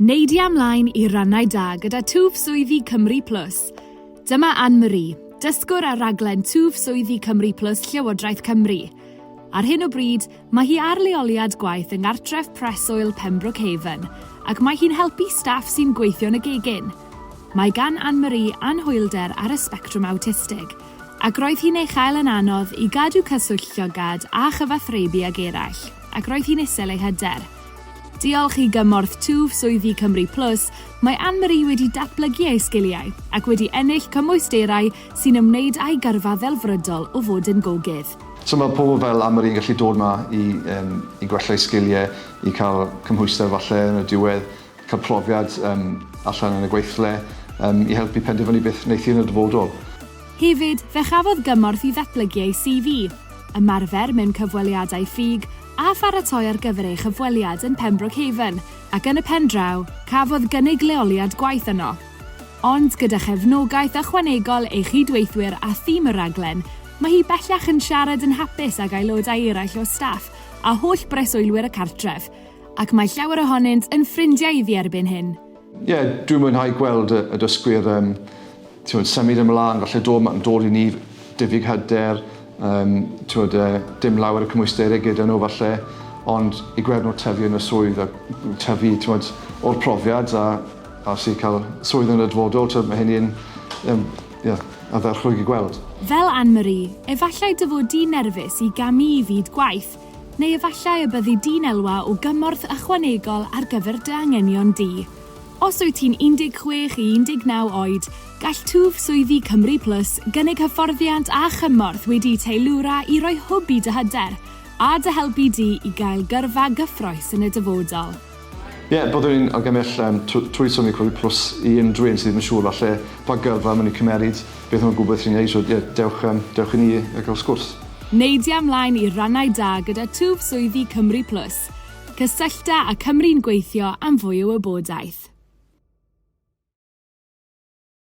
Neidia ymlaen i rannau da gyda Twf Swyddi Cymru Plus. Dyma Anne Marie, dysgwr ar raglen Twf Swyddi Cymru Plus Llywodraeth Cymru. Ar hyn o bryd, mae hi ar leoliad gwaith yng Nghartref Preswyl Pembroke Haven, ac mae hi'n helpu staff sy'n gweithio yn y gegin. Mae gan Anne Marie anhwylder ar y sbectrwm awtistig, ac roedd hi'n ei chael yn anodd i gadw cyswllt llygad a chyfathrebu ag eraill, ac roedd hi'n isel ei hyder. Diolch i gymorth twf swyddi Cymru Plus, mae Anne-Marie wedi datblygu ei sgiliau ac wedi ennill cymwysterau sy'n ymwneud â'i gyrfa ddelfrydol o fod yn gogydd. So mae pobl fel Anne-Marie yn gallu dod 'ma i yym i gwella'i sgiliau, i cael cymhwyster falle yn y diwedd, cael profiad yym allan yn y gweithle, yym i helpu penderfynu beth wneith hi yn y dyfodol. Hefyd, fe chafodd gymorth i ddatblygu ei CV, ymarfer mewn cyfweliadau ffug, a pharatoi ar gyfer ei chyfweliad yn Pembroke Haven, ac yn y pen draw, cafodd gynnig leoliad gwaith yno. Ond gyda chefnogaeth ychwanegol ei chyd-weithwyr a thîm y rhaglen, mae hi bellach yn siarad yn hapus ag aelodau eraill o staff a holl breswylwyr y cartref, ac mae llawer ohonynt yn ffrindiau iddi erbyn hyn. Ie, yeah, dwi'n mwynhau gweld y, y dysgwyr um, tiwod, symud ymlaen, falle dod, mae'n dod i ni diffyg hyder, um, tiwod, uh, dim lawer y cymwysterau gyda nhw falle, ond i gweld nhw tyfu yn y swydd a tyfu tiwod, o'r profiad a, a sy'n cael swydd yn y dyfodol, tiwod, mae hynny'n um, yeah, a dderchwyd i gweld. Fel Anne-Marie, efallai dy fod di'n nerfus i gamu i fyd gwaith, Neu efallai y byddi di'n elwa o gymorth ychwanegol ar gyfer dy anghenion di. Os wyt ti'n 16 i 19 oed, gall Twf Swyddi Cymru Plus gynnig hyfforddiant a chymorth wedi'u teilwra i roi hwb i dy hyder a dy helpu di i gael gyrfa gyffrous yn y dyfodol. Ie, yeah, byddwn ni'n argymell um, trwy Sony Covid Plus i unrhyw un sydd ddim yn siŵr falle pa gyrfa maen nhw'n cymeryd, beth nhw'n gwybod sy'n ei, so ie, yeah, dewch, um, dewch i ni a gael sgwrs. Neidia ymlaen i rannau da gyda twf swyddi Cymru Plus. Cysyllta a Cymru'n gweithio am fwy o wybodaeth.